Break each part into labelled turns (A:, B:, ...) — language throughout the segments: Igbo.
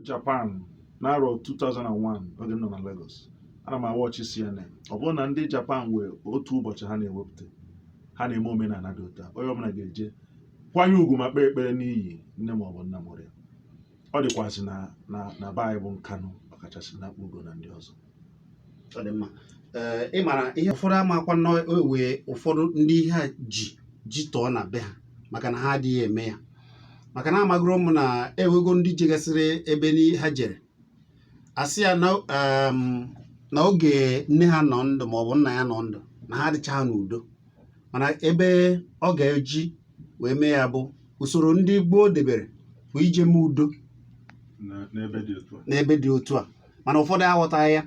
A: Japan n'arọ 2001 oge m nọ na Lagos ana m awatch CNN ọ bụrụ na ndị Japan wee otu ụbọchị ha na-ewepụta ha na-eme omenala dị otu a onye ọbụla ga-eje kwanye ugwu ma kpee ekpere n'iyi nne maọbụ nna mụrụ ya ọ dịkwazị na be anyị bụ Nkanụ ọkachasị na Akpụgo na ndị ọzọ
B: ị mara ihe ụfọdụ amakwa na ewe ụfọdụ ndị ihe a ji ji tọọ na be ha maka na ha adịghị eme ya maka na amagoro m na ewego ndị jegasịrị ebe ha jere a sị ya na oge nne ha nọ ndụ maọbụ nna ya nọ ndụ na ha adịchaha n'udo mana ebe ọ ga-eji wee mee ya bụ usoro ndị gboo debere bụ ije mee udo n'ebe dị otu a mana ụfọdụ aghọtaghị ya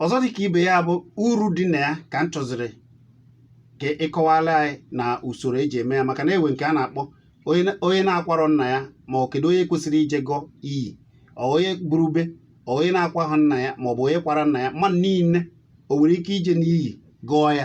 B: ọzọ dị ka ibe ya bụ uru dị na ya ka m chọziri ka ị kọwala anyị na usoro eji eme ya maka na ewe nke a na-akpọ onye na-akwarọ nna ya ma ọ kedu onye kwesịrị ije gọọ iyi onye buru be onye na-akwaha nna ya maọbụ onye kwara nna ya mmadụ niile o nwere ike ije n'iyi gọọ ya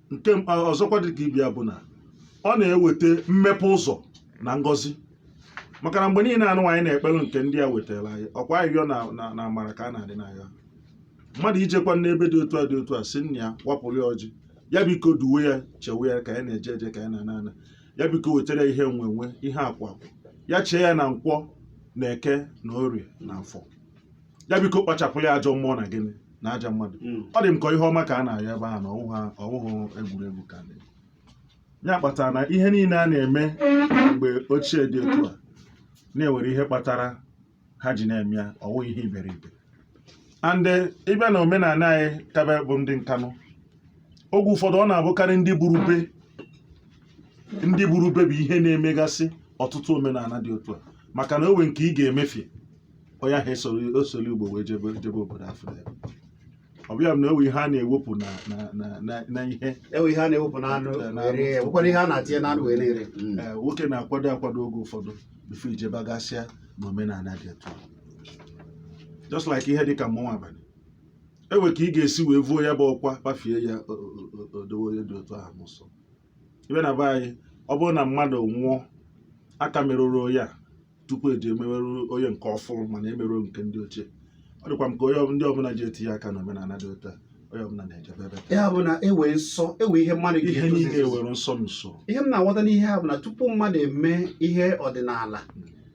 A: nke m- a- ọzọkwa dị ka ibe ya bụ na ọ na-eweta mmepe ụzọ na ngọzi maka na mgbe niile anụ anyị na-ekpere nke ndị a wetara anyị ọkwa ayịyọ na na- na amara ka a na-adị n'agha mmadụ ijekwa n'ebe dị otu a dị otu a sị nna ya wapụrụ ya ọjị ya biko duwe ya chewe ya ka ya na-eje eje ka ya na-ana ana ya biko wetara ya ihe enwe enwe ihe akụ akụ ya chee ya na nkwọ na eke na orie na afọ ya biko kpachapụrụ ya ajọ mmụọ na gịnị na ajọ mmadụ Mm. ọ dị m ka ihe ọma ka a na-ayọ ebe ahụ na ọwụ ha ọwụhụ egwuregwu ka dị ya kpatara na ihe niile a na-eme mgbe ochie dị otu a na ewere ihe kpatara ha ji na-eme ya ọwụhụ ihe iberibe and eh, ị bịa na omenala anyị kabe bụ ndị Nkanụ oge ụfọdụ ọ na-abụkarị ndị buru be ndị buru be bụ ihe na-emegasị ọtụtụ omenala dị otu a maka na o nwe nke ị ga-emefie onye ahụ esoro osoro ụgbọ wee jebe jebe obodo afọ ya ọ bịa bụ na ewe ihe a na-ewepụ na na na na na ihe enwe ihe a na-ewepụ n'anụ
B: Eh, n'anụ. were ya nwekwara ihe a na-atinye n'anụ wee na-ere Mm. ee, nwoke na-akwado
A: akwado oge ụfọdụ before i jebagasịa na omenala dị etu a. just like ihe dịka mmọnwụ abalị ewe ka ị ga-esi wee vuo ya bụ ọkwa kpafie ya o- o- o- o dowe onye dị otu ahụ n'ụsọ ị bịa na be anyị ọ bụrụ na mmadụ nwụọ aka merụrụ ya tupu eji emewerụ onye nke ọfụrụ mana emerụ nke ndị ochie ọ dịkwa m ka ndị ọbụla ji etinye aka na omenala dị otu a onye ọbụla na-ejebe ebe ya bụ na
B: ewe nsọ ewe ihe mmadụ ihe niile ewere nsọ
A: n'usoro
B: ihe m na-aghọta
A: n'ihe
B: a bụ na tupu
A: mmadụ
B: eme ihe ọdịnala